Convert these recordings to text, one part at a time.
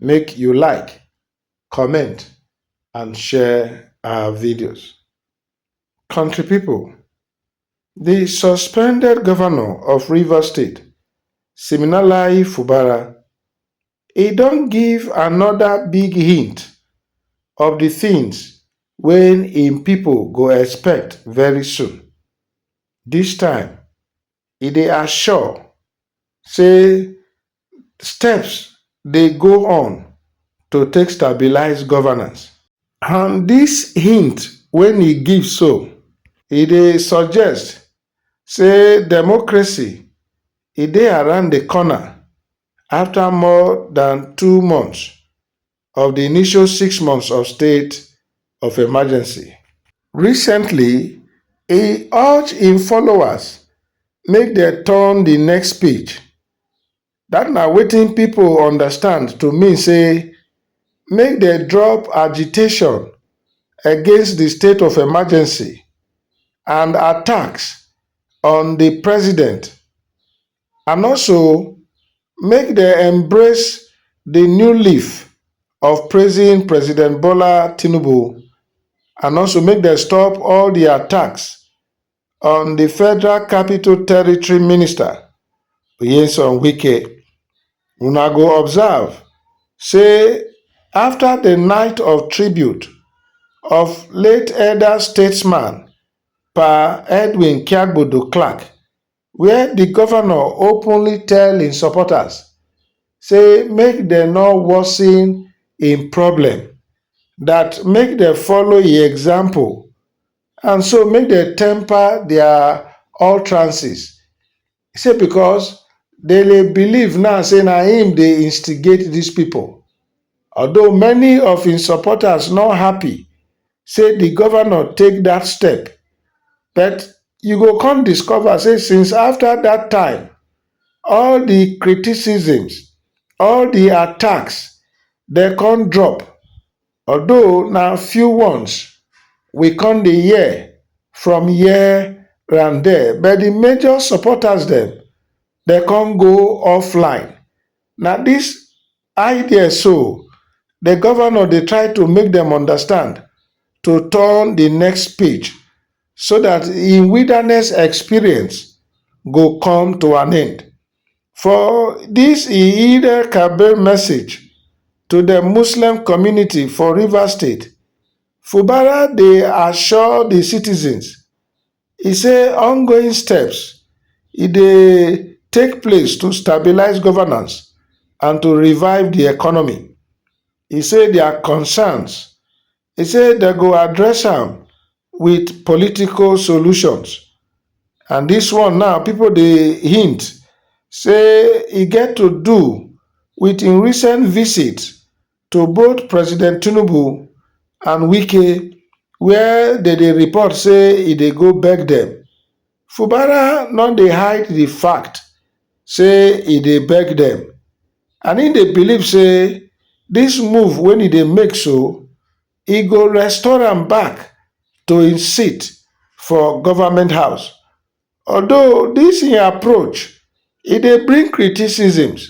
make you like, comment and share our videos. Country people, the suspended governor of River State, Siminalayi Fubara, he don't give another big hint of the things when in people go expect very soon. This time, e dey assure say steps dey go on to take stabilise governance. And dis hint wey e give so, e dey suggest say democracy e dey around di corner afta more dan two months of di initial six months of state of emergency. Recently, e urge im followers make dem turn di next page, dat na wetin pipo understand to mean say make dem drop agitation against di state of emergency and attacks on di president and also make dem embrace di new leaf of praising President Bola Tinubu and also make dem stop all di attacks on di Federal Capital Territory Minister Nyesom Wike. Una go observe say afta di night of tribute of late elder statesman Pa Edwin Kiagbodo Clark wia di govnor openly tell im supporters say make dem no worsen im problem, dat make dem follow im example and so make dem temper dia utterances say becos dem dey believe now say na im dey instigate dis pipo. although many of im supporters no happy say di govnor take dat step but you go come discover say since afta dat time all di criticisms all di attacks dem come drop although na few ones we come dey hear from here and dia but di major supporters dem come go offline na dis I there so the governor dey try to make them understand to turn the next page so that im wilderness experience go come to an end. For this Eid-el-Kabir message to the Muslim community for Rivers State, Fubara dey assure the citizens e say ongoing steps e dey take place to stabilise governance and to revive di economy e say dia concerns e say dem go address am wit political solutions and dis one now pipo dey hint say e get to do wit im recent visit to both president tinubu and wike wia dem dey report say e dey go beg dem fubara no dey hide di fact say e dey beg dem and im dey believe say dis move wen e dey make so e go restore am back to im seat for goment house although dis im approach e dey bring criticisms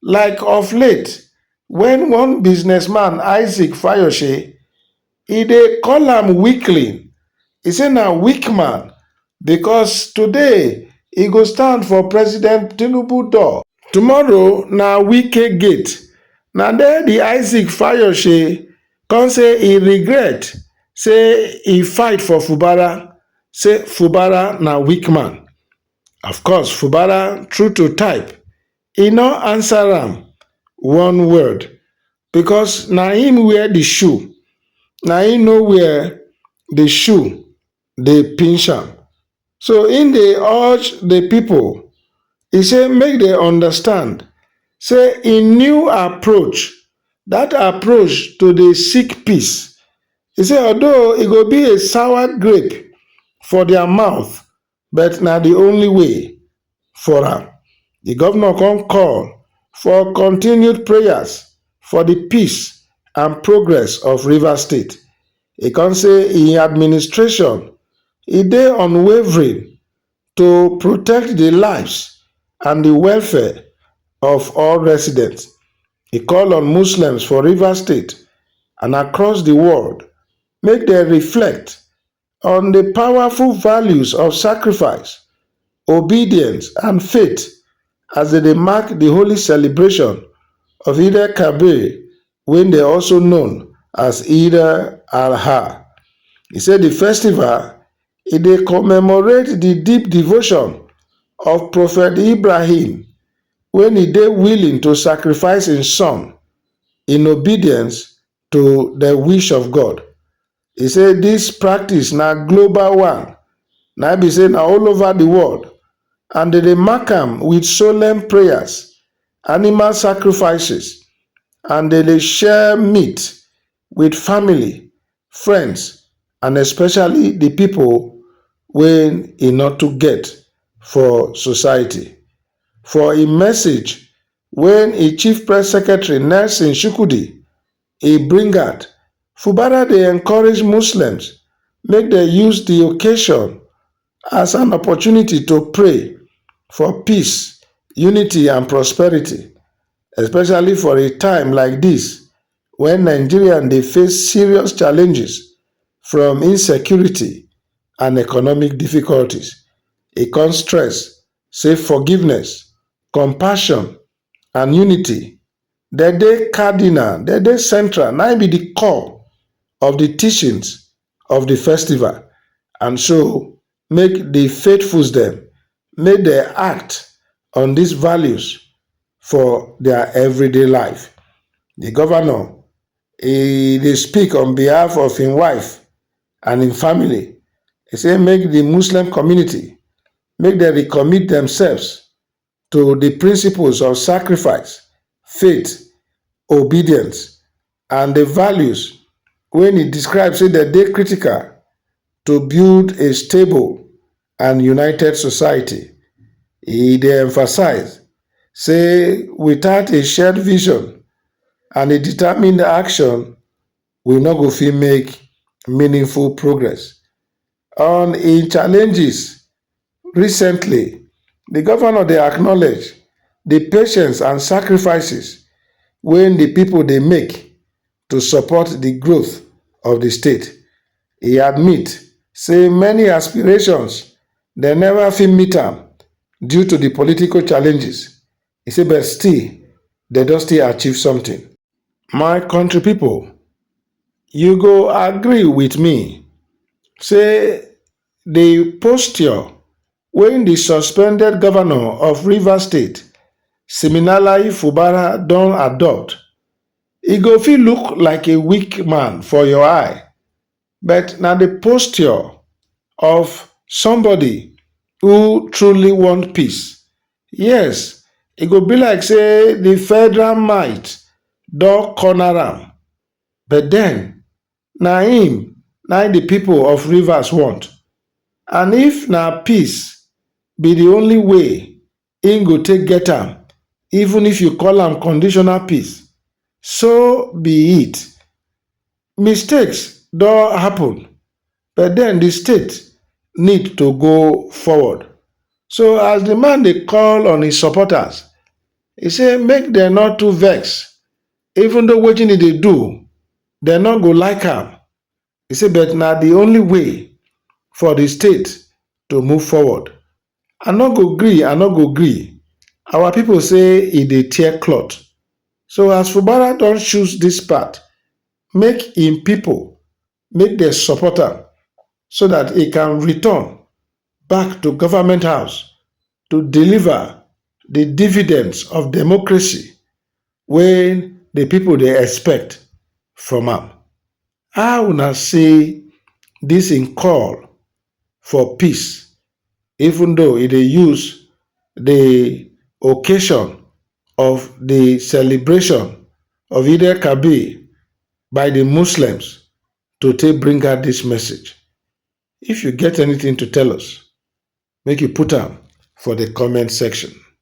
like of late when one businessman isaac fayose e dey call am weakling e say na weak man because today e go stand for president tinubu door tomorrow na wike gate na there the isaac fayose come say e regret say e fight for fubara say fubara na weak man of course fubara true to type e no answer am one word because na him wear the shoe na him no wear the shoe dey pinch am so he dey urge the people he say make dem understand say he new approach that approach to dey seek peace he say although e go be a sour grape for their mouth but na di only way for am, di govnor kon call for continued prayers for di peace and progress of Rivers State. E kon say im administration e dey unwavering to protect di lives and di welfare of all residents. E call on Muslims for Rivers State and across di world make dem reflect on di powerful values of sacrifice, obedience and faith as dem dey mark di holy celebration of Eid El Kabir wey dem also known as Eid El Adha. E say di festival e dey commemorate di deep devotion of Prophet Ibrahim wen e dey willing to sacrifice im son in obedience to di wish of God He say dis practice na global one, na im be say na all over di world and dem dey mark am wit solemn prayers, animal sacrifices and dem dey share meat wit family, friends and especially di pipo wey e no too get for society. For im message wey im chief press secretary Nelson Shukudi e bring out fubara dey encourage muslims make dem use di occasion as an opportunity to pray for peace unity and prosperity especially for a time like dis wen nigeria dey face serious challenges from insecurity and economic difficulties e come stress say forgiveness compassion and unity, dem dey cardinal, dem dey central, na im be the core of the teachings of the festival and so make the faithfuls dem make dem act on this values for their everyday life. The governor e dey speak on behalf of im wife and im family, e say make the Muslim community make dem recommit themselves to di principles of sacrifice, faith, obedience and di values wey e describe say dem dey critical to build a stable and united society. E dey emphasize say without a shared vision and a determined action, we no go fit make meaningful progress. On im challenges recently, di govnor dey acknowledge di patience and sacrifices wey di pipo dey make to support di growth of di state. E admit say many aspirations dem neva fit meet am due to di political challenges E say but still dem don still achieve something. My country people, you go agree with me say the posture wey the suspended governor of Rivers State, Siminalayi Fubara don adopt, e go fit look like a weak man for your eye but na the posture of somebody who truly want peace Yes, e go be like say the federal might don corner am, but then na him na him the people of Rivers want and if na peace be the only way him go take get am even if you call am conditional peace, so be it. Mistakes don happen. but den di state need to go forward so as di man dey call on im supporters e say make dem no too vex even though wetin e dey do dem no go like am e say but na di only way for di state to move forward I no go gree I no go gree our pipo say e dey tear cloth so as Fubara don choose dis path make im pipo make dem support am so dat e can return back to government house to deliver di dividends of democracy wey di pipo dey expect from am. How una see dis im call for peace even though e dey use di occasion of di celebration of Eid-el-Kabir by di muslims to take bring out dis message if you get anytin to tell us make you put am for di comment section